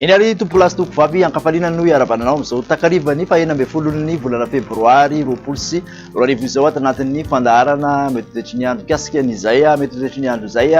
Eny ary tompolasy tompovavy ankafaliana noho iharavana anao amin'izao takarivan'ny fahena ambin'ny folon'ny volana febroary roapolo sy roa arivo izao ato anatin'ny fandaharana mety ho toetry ny andro mikasika an'izay mety ho toetry ny andro izay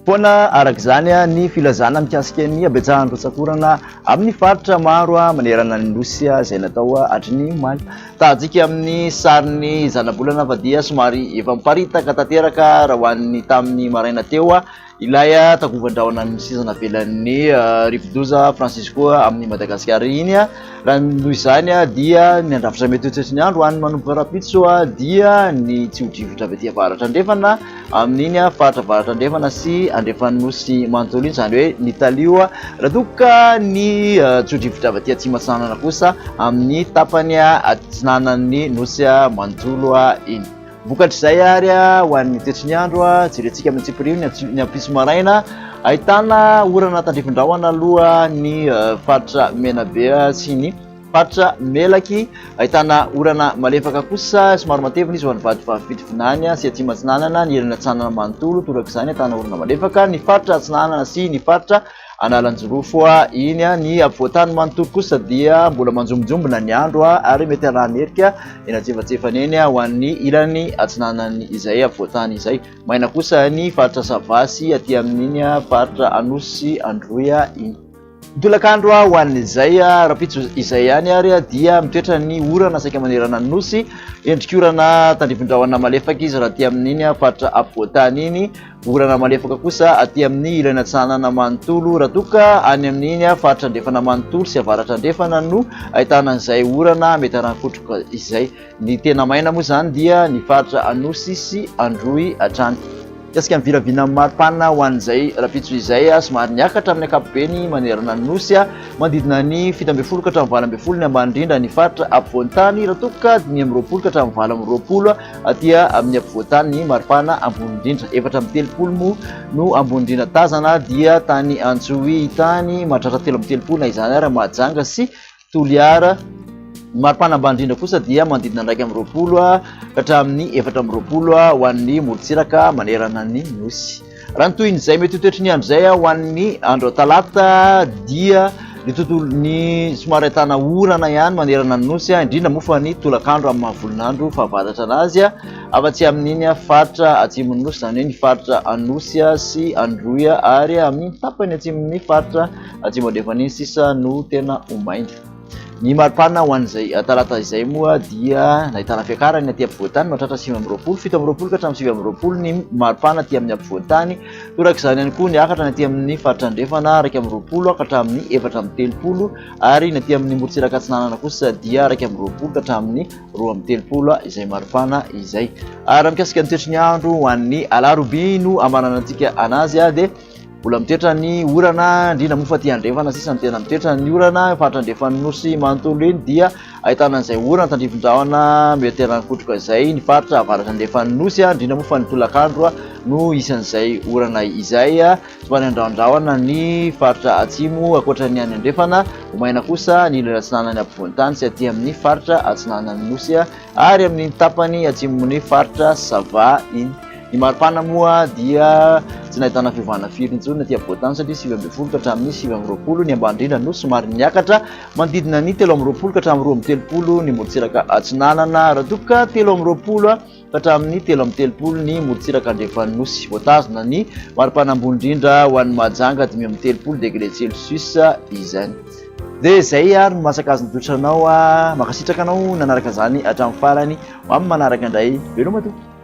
Foana araka izany ny filazana mikasika ny habetsahan'ny rotsak'orana amin'ny faritra maro manerana ny Nosy izay natao hatry ny omaly. Tahantsika amin'ny sarin'ny zanabolana fa dia somary efa miparitaka tanteraka raha ho an'ny tamin'ny maraina teo ilay takovan-drahona ny seza navelan'ny rivodoza Francisco amin'i Madagasikara iny. Raha noho izany dia ny handrafitra mety ho toetry ny andro ho an'ny manomboka rahampitso dia ny tsio-drivotra avy aty avaratra andrefana amin'iny faritra avaratra andrefana sy andrefan'ny nosy manontolo iny, izany hoe ny talio, raha toa ka ny tsio-drivotra avy aty atsimo atsinanana kosa amin'ny tapany atsinanan'ny nosy manontolo iny. Vokatr'izay ary ho an'ny toetry ny andro, jerentsika amin'ny antsipiriho ny ampitso maraina, ahitana orana tandrifin-drahona aloha ny faritra Menabe sy ny faritra Melaky, ahitana orana malefaka kosa somary matevina izy ho an'ny vadivavy Fitovinany sy Atsimo Atsinanana, ny ilany Atsinanana manontolo, torak'izany ahitana orana malefaka ny faritra Atsinanana sy ny faritra Analanjirofo, iny ny afovoantany manontolo kosa dia mbola manjombonjombona ny andro ary mety halaha nerika eny antsefatsefany eny ho an'ny ilany atsinanany izay afovoantany izay. Maina kosa ny faritra Sava sy aty amin'iny faritra Anosy sy Androy iny. Ny tolakandro ho an'izay rahampitso izay ihany ary dia mitoetra ny orana saika manerana ny Nosy, endrik'orana tandrifindrahona malefaka izy raha aty amin'iny faritra afovoantany iny. Orana malefaka kosa aty amin'ny ilany atsinanana manontolo raha toa ka any amin'iny faritra andrefana manontolo sy avaratra andrefana no ahitana an'izay orana mety harankotroka izay. Ny tena maina moa izany dia ny faritra Anosy sy Androy hatrany. Mikasika ny vinavinan'ny maripana ho an'izay rahampitso izay, somary niakatra amin'ny ankapobeny manerana ny Nosy, manodidina ny fito ambin'ny folo ka hatramin'ny valo ambin'ny folo ny ambany indrindra ny faritra ampovoan-tany raha toa ka dimy amby roapolo ka hatramin'ny valo amby roapolo Aty amin'ny ampovoantany ny maripana ambony indrindra, efatra amby telopolo moa no ambony indrindra tazana, dia tany Antsohihy tany, mahatratra telo amby telopolo na izany ary, Mahajanga sy Toliara. Ny maripana ambany indrindra kosa dia manodidina iraika amby roapolo ka hatramin'ny efatra amby roapolo ho an'ny morontsiraka manerana ny Nosy. Raha ny tohin'izay mety ho toetry ny andro izay ho an'ny andro talata dia ny tontolon'ny somary ahitana orana ihany manerana ny nosy, indrindra moa fa ny tolakandro amin'ny maha-volonandro fahavaratra anazy, afa-tsy amin'iny faritra atsimon'ny nosy, izany hoe ny faritra Anosy sy Androy ary amin'ny tapany atsimon'ny faritra atsimo andrefana iny sisa no tena ho maina. Ny maripana ho an'izay talata izay moa dia nahitana fiakarany aty ampovoantany mahatratra sivy amby roapolo, fito amby roapolo ka hatramin'ny sivy amby roapolo ny maripana aty amin'ny ampovoantany. Toraka izany ihany koa ny akatra ny aty amin'ny faritra andrefana iraika amby roapolo ka hatramin'ny efatra amby telopolo ary ny aty amin'ny morontsiraka atsinanana kosa dia iraika amby roapolo ka hatramin'ny roa amby telopolo izay maripana izay. Ary mikasika ny toetry ny andro ho an'ny alarobia no hamaranantsika anazy dia Mbola mitoetra ny orana, indrindra moa fa aty andrefana sisa no tena mitoetra ny orana. Faritra andrefan'ny nosy manontolo iny dia ahitana izay orana tandrifin-drahona mihoateran-kotroka izay. Ny faritra avaratra andrefan'ny nosy, indrindra moa fa ny tolakandro no isan'izay orana izay. Somary andrahondrahona ny faritra atsimo ankoatra ny any andrefana. Ho maina kosa ny ilany atsinanan'ny ampovoan-tany sy aty amin'ny faritra atsinanan'ny nosy ary amin'ny tapany atsimon'ny faritra sava iny. Ny maripana moa dia tsy nahitana fiovana firy intsony aty afovoan-tany satria sivy ambin'ny folo ka hatramin'ny sivy amby roapolo ny ambany indrindra no somary niakatra manodidina ny telo amby roapolo ka hatramin'ny roa amby telopolo ny morontsiraka atsinanana raha toa ka telo amby roapolo ka hatramin'ny telo amby telopolo ny morontsiraka andrefan'ny nosy. Voatazona ny maripana ambony indrindra ho an'i Mahajanga dimy amby telopolo degré celsius izany. Dia izay ary no maha-sakazon'ny toetra anao. Mankasitraka anao nanaraka izany hatramin'ny farany. Ho amin'ny manaraka indray, veloma tompoko.